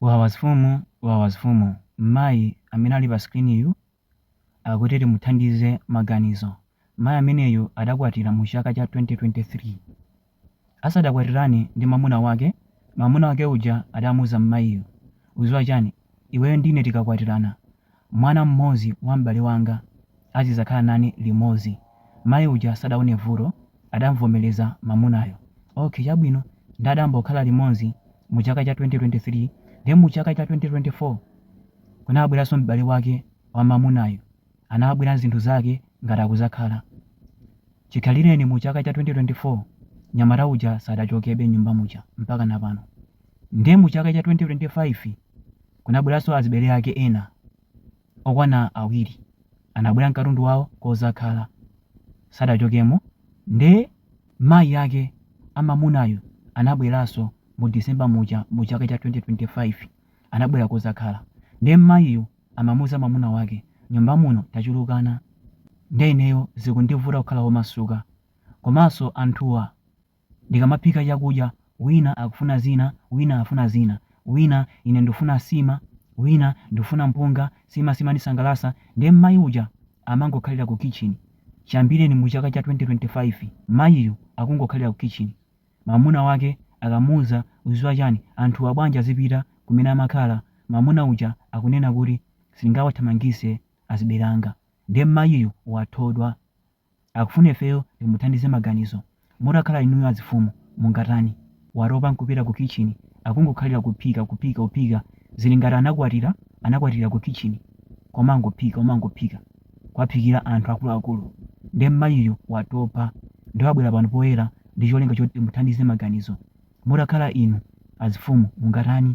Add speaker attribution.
Speaker 1: Wawa azifumu wawa azifumu Mmayi amene ali pa screen yu akuti timuthandize maganizo. Mayi ameneyu adakwatira mu chaka cha 2023. Asadakwatirane ndi mamuna wake, mamuna wake uja adamuuza mmayiyu, uziwa chani, iweyo ndine tikakwatirana, mwana mmodzi wa m'bale wanga, azidzakhala nane limodzi. Mayi uja sadaone vuto adamvomereza mamunayo. Ok chabwino nde adambokhala limodzi mu chaka cha 2023 then mu chaka cha 2024 kunabweranso m'bale wake wa mamunayo anabwera nzinthu zake ngati akudzakhala chikhalireni mu chaka cha 2024 nyamata uja sadachokebe nyumba muja mpakana pano nde mu chaka cha 2025 kunabweranso azibale ake ena okwana awiri anabwera nkatundu wawo kozakhala sadachokemo nde mayi ake amamunayu anabweraso mu December muja mu chaka cha 2025 anabwera kozakhala nde mmayiyu amamuuza mamuna wake nyumba muno tachulukana nde ineyo zikundivuta kukhala omasuka komaso anthuwa Ndikamaphika chakudya, wina akufuna zina, wina afuna zina, wina ine ndufuna sima, wina ndufuna mpunga, sima simandisangalasa, nde mmayi uja amangokhalira ku kitchen, chiyambireni mu chaka cha 2025 mayiyu akungokhalira ku kitchen, mamuna wake akamuuza uziwa chani, anthuwa bwanji azipita kumene amakhala, mamuna uja akunena kuti sindingawathamangise azibale anga, nde mmayiyu wathodwa. Akufuna ifeyo timuthandize maganizo. Mutakhala inuyo azifumu mungatani? Watopa nkupita ku kitchen akungokhalira kuphika kuphika kuphika zili ngati anakwatira anakwatirira ku kitchen komangophika komangophika kuwaphikira anthu akuluakulu nde mmayiyu watopa nde wabwera pano poyera ndicholinga choti timuthandize maganizo. Mutakhala inu azifumu mungatani?